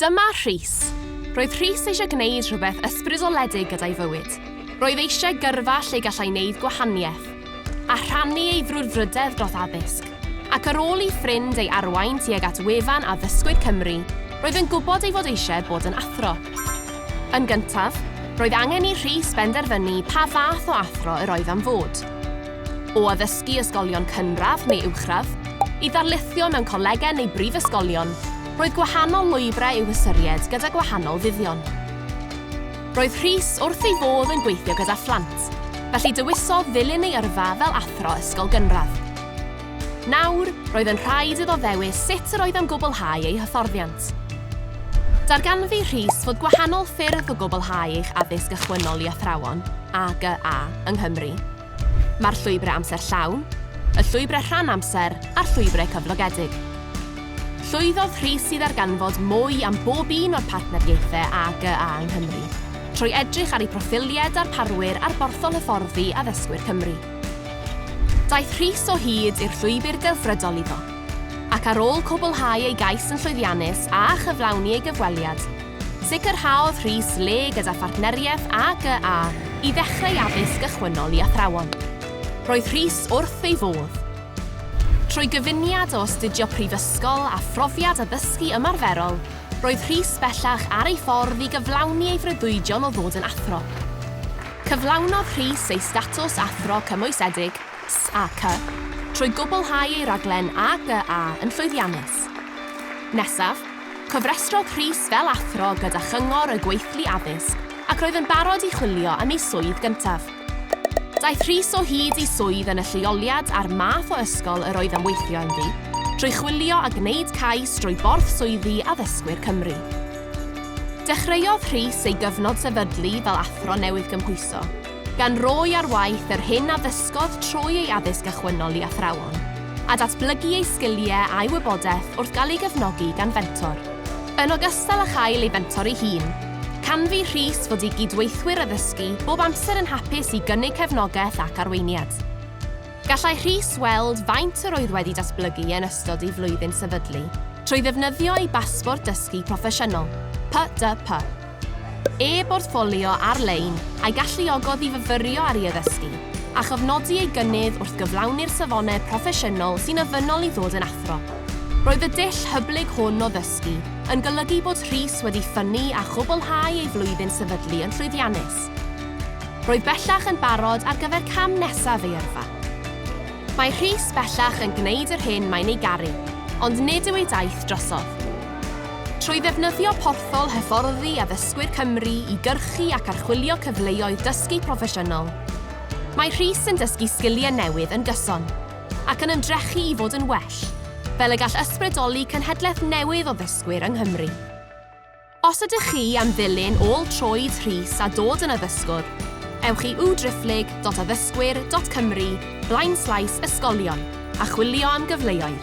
Dyma Rhys. Roedd Rhys eisiau gwneud rhywbeth ysbrydoledig gyda'i fywyd. Roedd eisiau gyrfa lle gallai wneud gwahaniaeth, a rhannu ei frwdfrydedd dros addysg. Ac ar ôl i ffrind ei arwain tuag at wefan Addysgwyr Cymru, roedd yn gwybod ei fod eisiau bod yn athro. Yn gyntaf, roedd angen i Rhys benderfynu pa fath o athro yr oedd am fod. O addysgu ysgolion cynradd neu uwchradd, i ddarlithio mewn colegau neu brifysgolion, Roedd gwahanol lwybrau i'w hystyried gyda gwahanol fuddion. Roedd Rhys wrth ei fodd yn gweithio gyda phlant, felly dywisodd ddilyn ei yrfa fel athro ysgol gynradd. Nawr, roedd yn rhaid iddo ddewis sut yr oedd am gwblhau ei hyfforddiant. Darganfu Rhys fod gwahanol ffyrdd o gwblhau eich addysg ychwynol i athrawon, AGA, yng Nghymru. Mae'r llwybrau amser llawn, y llwybrau rhan amser a'r llwybrau cyflogedig. Llwyddodd Rhys i ddarganfod mwy am bob un o'r partneriaethau AGA yng Nghymru, trwy edrych ar eu proffiliau darparwyr ar borthol hyfforddi Addysgwyr Cymru. Daeth Rhys o hyd i'r llwybr delfrydol iddo. ac ar ôl cwblhau ei gais yn llwyddiannus a chyflawni ei gyfweliad, sicrhaodd Rhys le gyda phartneriaeth AGA i ddechrau addysg gychwynnol i athrawon. Roedd Rhys wrth ei fodd. Trwy gyfuniad o astudio prifysgol a phrofiad addysgu ymarferol, roedd Rhys bellach ar ei ffordd i gyflawni ei freuddwydion o ddod yn athro. Cyflawnodd Rhys ei statws Athro Cymwysedig, SAK, trwy gwblhau ei raglen AGA yn llwyddiannus. Nesaf, cofrestrodd Rhys fel athro gyda Chyngor y Gweithlu Addysg ac roedd yn barod i chwilio am ei swydd gyntaf. Daeth Rhys o hyd i swydd yn y lleoliad a'r math o ysgol yr oedd am weithio ynddi, trwy chwilio a gwneud cais drwy Borth Swyddi Addysgwyr Cymru. Dechreuodd Rhys ei gyfnod sefydlu fel athro newydd gymhwyso. gan roi ar waith yr hyn a ddysgodd trwy ei addysg achwynol i athrawon, a datblygu ei sgiliau a'i wybodaeth wrth gael ei gefnogi gan fentor. Yn ogystal â chael ei fentor ei hun, canfu Rhys fod ei gydweithwyr addysgu bob amser yn hapus i gynnig cefnogaeth ac arweiniad. Gallai Rhys weld faint yr oedd wedi datblygu yn ystod ei flwyddyn sefydlu trwy ddefnyddio ei basbort dysgu proffesiynol, PDP. e-bortffolio ar-lein a'i galluogodd i fyfyrio ar ei addysgu, a chofnodi ei gynnydd wrth gyflawni'r safonau proffesiynol sy'n ofynnol i ddod yn athro. Roedd y dull hyblyg hwn o ddysgu yn golygu bod Rhys wedi ffynnu a chwblhau ei flwyddyn sefydlu yn llwyddiannus. Roedd bellach yn barod ar gyfer cam nesaf ei yrfa. Mae Rhys bellach yn gwneud yr hyn mae'n ei garu, ond nid yw ei daith drosodd. Trwy ddefnyddio porthol hyfforddi addysgwyr Cymru i gyrchu ac archwilio cyfleoedd dysgu proffesiynol, mae Rhys yn dysgu sgiliau newydd yn gyson ac yn ymdrechu i fod yn well, fel y gall ysbrydoli cenhedlaeth newydd o ddysgwyr yng Nghymru. Os ydych chi am ddilyn ôl troed Rhys a dod yn addysgwr, ewch i www.driphlyg.addysgwyr.cymru blaenslaes ysgolion a chwilio am gyfleoedd.